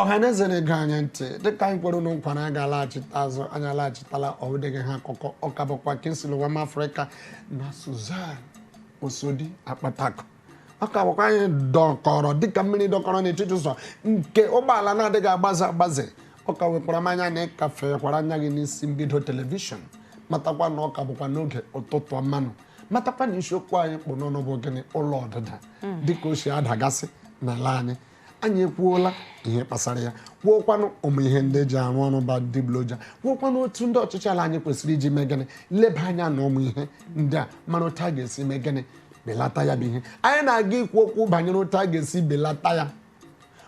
ọhaneze na-ege anyị ntị dịka anyị kwere unu nkwa na anyị ga-alaghachite azụ anyị alaghachitala ọdịghị ha akụkọ ọ ka bụkwa Kingsley Nwa Africa na Suzan Osodi Akpataku ọ ka bụkwa anyị dọkọrọ dịka mmiri dọkọrọ n'etiti ụzọ nke ụgbọala na-adịghị agbaze agbaze ọ ka wekwara m anya na ị ka fekwara anya gị n'isi mbido telivishọn matakwa na ọ ka bụkwa n'oge ụtụtụ ọma nụ matakwa na isiokwu anyị kpụ n'ọnụ bụ gịnị ụlọ ọdịda hmm. dịka o si adagasị n'ala anyị anyị ekwuola ihe kpasara ya kwuokwanụ ụmụ ihe ndị eji arụ ọrụ bụ adịgboroja kwuokwanụ otu ndị ọchịchị ala anyị kwesịrị iji mee gịnị leba anya na ụmụ ihe ndị a mara otu a ga-esi mee gịnị belata ya bụ ihe anyị na-aga ikwu okwu banyere otu a ga-esi belata ya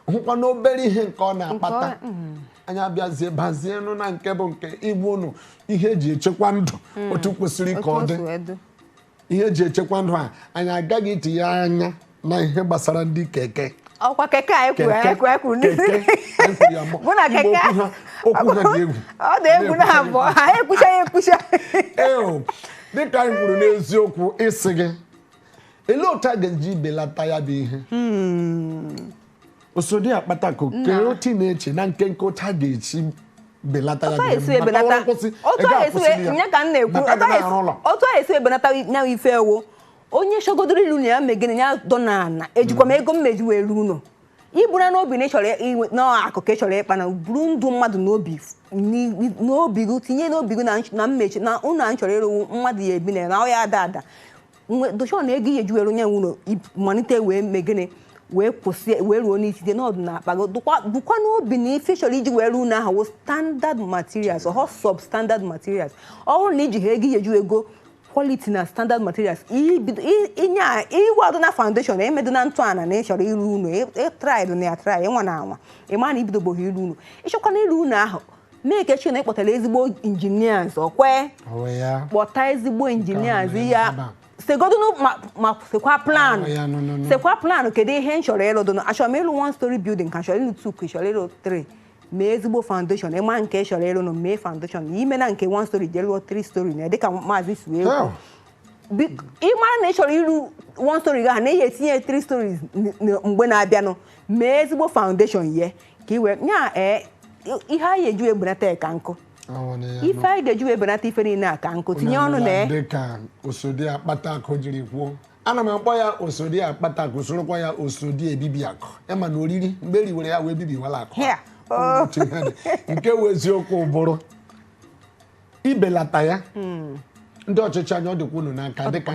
hụkwa na obere ihe nke ọ na-akpata mm. anyị abịazie bazienụ na nke bụ nke ịgwa ụnụ ihe eji echekwa ndụ mm. otu kwesịrị ka ọ dị ihe eji echekwa ndụ a anyị ga-aga itinye anya na ihe gbasara ndị keke ọkwa keke a ekwu ekwu ekwu bụ na keke okwu ha dị egwu ọ dị egwu na abụọ ha ekwucha ya ekwucha dịka anyị kwuru n'eziokwu ịsị gị olee otu a ga-eji belata ya bụ ihe hmm. Osodi Akpataku kee otu ị na-eche na nkenke otu a ga-esi belata ya kwụsị ya ka m na-ekwu otu a esi ebelata ya ife ọ wụ onye chọgodoro ịlụ ụnọ ya mee gịnị ya dọnụ ana ejikwa m hmm. ego m meji wee rụ ụlọ i buru n'obi na ị chọrọ inwe na akụ ka ị chọrọ ịkpa na buru ndụ mmadụ n'obi n'obi gị tinye n'obi gị na mmechi na ụlọ a ị chọrọ ịrụ wụ mmadụ ya-ebi na ya na ọ ya-ada ada Nwe- dochọ na ego ị ya-eji were onye nwụrụ ib- malite wee mee gịnị wee kwụsị wee ruo n'isi dị n'ọdụ na akpa gị bukwa bukwa n'obi na ife ị chọrọ iji wee rụọ ụnọ ahụ wụ standard materials ọhọ substandard materials ọ bụrụ na i jihọ ego ị ya-eji egọ quality na standard materials ibido- i- inye a- iwado na foundation na emedo na ntọala na ị chọrọ ịrụ ụlọ ị trydụna ya try ị nwana anwa ị ma na i bidobeghị ịrụ ụlọ ị chọkwana ịrụ ụlọ ahụ make sure na ị kpọtara ezigbo engineers ọkwa ị kpọta ezigbo engineers ya segodunu ma sekwa plan oh, sekwa plan kedu ihe m chọrọ ịlụ dụnụ achọrọ m ịlụ one story building ka chọrọ ịlụ two ka chọrọ ịlụ three mee ezigbo foundation ị ma nke ị chọrọ ịlụ nụ mee foundation i mena nke one story jee lụọ three story na dịka maazị si wee oh. ị mara na ị chọrọ ịlụ one story gị ha na ị ya-etinye three stories mgbe na-abịanụ mee ezigbo foundation ye ka iwe ya ee ihe anyị eji ebenata ka nkụ ife anyị ga-eji ebenata ife niile a ka nkụ tinye ọnụ na dị ka osodi akpata akụ jiri kwuo ana m akpọ ya osodi akpata akụ sorokwa ya osodi ebibi akụ ịma na oriri mgbe e riwere ya wee bibiwala akụ oh. nke wụ eziokwu bụrụ ibelata ya hmm. ndị ọchịchị anyị ọ dịkwa unu n'aka dịka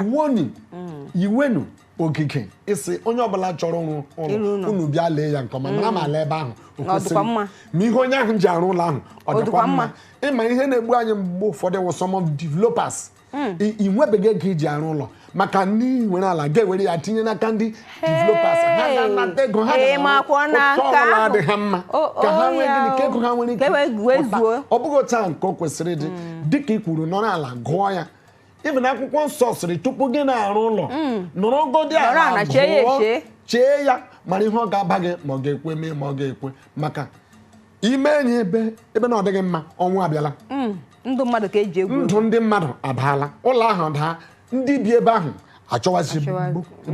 iwu onyi hmm. iwenu ogige ịsị onye ọbụla chọrọ ịrụ ụlọ unu bịa lee ya nke ọma mara ma ala ebe ahụ o kwesịrị ma ihe onye ahụ ji arụ ụlọ ahụ ọ dịkwa mma ịma ihe na-egbu anyị mgbe ụfọdụ wụ some of developers hmm. ị nwebeghị ego i ji arụ ụlọ maka ndị nwere ala ga-ewere ya tinye n'aka ndị developers ha ga-anata ego ha ọbụla adị ha mma ka ha nwee gịnị ka ego ha nwere ike ọ bụghị otu ahụ nke o kwesịrị ịdị hmm. dịka ị kwuru nọrọ ala gụọ ya even akwụkwọ nsọ sịrị tupu gị na-arụ ụlọ mm. nọrọ godi ala gụọ chee ya mara ihe ọ ga-aba gị ma ọ ga-ekwe mee ma ọ ga-ekwe maka ime enyi ebe ebe na ọ dịghị mma ọnwụ abịala mm. ndụ mmadụ ka e ji egwu ndụ ndị mmadụ adaala ụlọ ahụ daa ndị bi ebe ahụ achọwazi ebe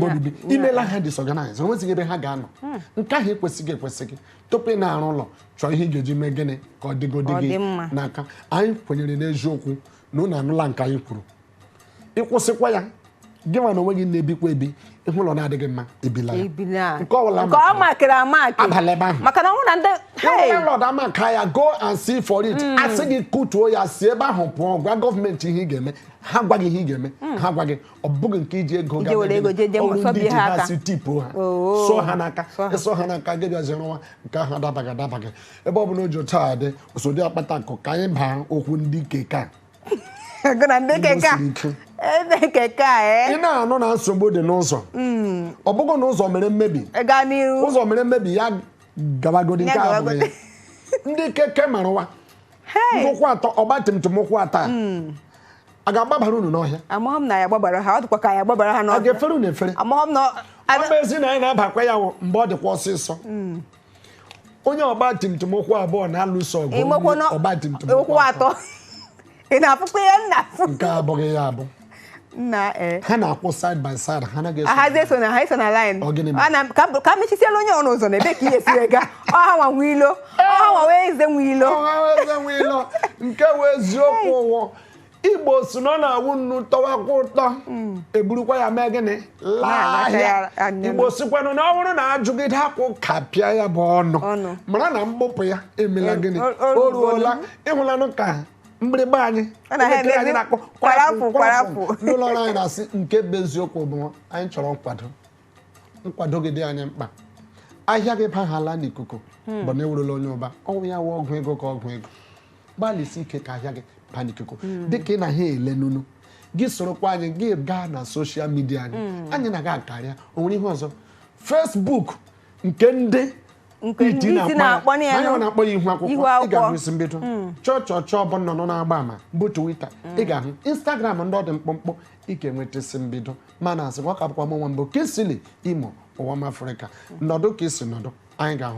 obibi i meela ha disorganize onwezighị ebe ha ga-anọ hmm. nke ahụ ekwesịghị ekwesịghị tupu ị na-arụ ụlọ chọọ ihe ị ga-eji mee gịnị ka ọ dịgodi gị n'aka anyị kwenyere n'eziokwu na unu anụla nke anyị kwuru ịkwụsịkwa ya gị nwa n'onwe gị na-ebikwa ebi ị hụ ụlọ na-adịghị mma ebila ya ebila nke ọbụla nke a markịrị amark abala ebe ahụ maka na ụlọ ndị landlord a mark ya go and see for it hmm. a sị gị kutuo ya si ebe ahụ pụọ gwa gọọmenti ihe ị ga-eme ha gwa gị ihe ị ga-eme hmm. ha gwa gị ọ bụghị nke i ji ego ga ọrụ ndị ji ha si tipu ha oh. sụọ ha n'aka ịsụọ ha n'aka gị bịazi rụwa nke ahụ adabaghị adabaghị ebe ọ bụla o ji otu a dị osodi akpata akụ ka anyị baa okwu ndị keke gụ na ndị Igbo keke a siri ike. ebe keke a ị ee na-anụ na nsogbu dị n'ụzọ ọ bụghị na ụzọ mere mmebi gaa n'iru ụzọ mere mmebi ya gabagodi nke Ya a bụrụ ya gabagodi. ndị keke Maruwa Hey! ụkwụ atọ ọgba tum tum ụkwụ atọ a a ga-agbabara unu n'ọhịa amaghị m na ya gbabara ha ọ dịkwa ka ya gbabara ha a n'ọhịa ga-efere unu efere amaghị m na ọ bụ ezi na anyị na-abakwa ya wụ mgbe ọ dịkwa ọsịsọ onye ọgba tum tum ụkwụ abụọ na-alụso ọgụ ọgba tum tum ụkwụ atọ ị na-afụkwa ihe nna nke abụghị ya abụ na eh. ha na-akwụ side by side ha anaghị eso ahazi eso na ha eso na line ka m mechisiela onye ọnụ ụzọ na ebe ka ihe siri ga ọha nwa nwe ilo ọha nwa wee eze nwe ilo nke wụ eziokwu ụwọ igbo si na ọ na-awụ nnu tọwakwa ụtọ eburukwa ya mee gịnị laa Na-alacha ya ahịa anya. igbo sikwanụ na ọ bụrụ na ajụgide akwụ kapịa ya bụ ọnụ Ọnụ. mara na mgbupụ ya emela O- gịnị o- o o ruola ruola. ịhụlanụ ka mgbịrịgba anyị Ọ na ha elekere anyị emezi na-akpọ kwarapụ, kwarapụ. ndị ụlọ ọrụ anyị na-asị nke bụ eziokwu bụ anyị chọrọ nkwado gị dị anyị mkpa ahịa gị bahala n'ikuku bụ na ewurula onye ụba ọ wụ ya wụ ọgwụ ego ka ọgwụ ego gbalịsi ike ka ahịa gị baa n'ikuku hmm. dịka ị na ha ele n'unu gị sorokwa anyị gị gaa na soshal midia anyị hmm. anyị na-aga akarịa o nwere ihe ọzọ fesbuk nke ndị iti na-akpọ ya ihu akwụkwọ ị ga-ahụ isi mbido hmm. chọọ chọọ chọọ bụ nnụnụ na-agba ama bụ Twitter ị ga-ahụ Instagram ndị ọ dị mkpụmkpụ ị ga-enweta isi mbido mana asị ka ọ ka bụkwa m nwa mbụ kesili imo ụwa m afrịka nọdụ ka i si nọdụ anyị ga-ahụ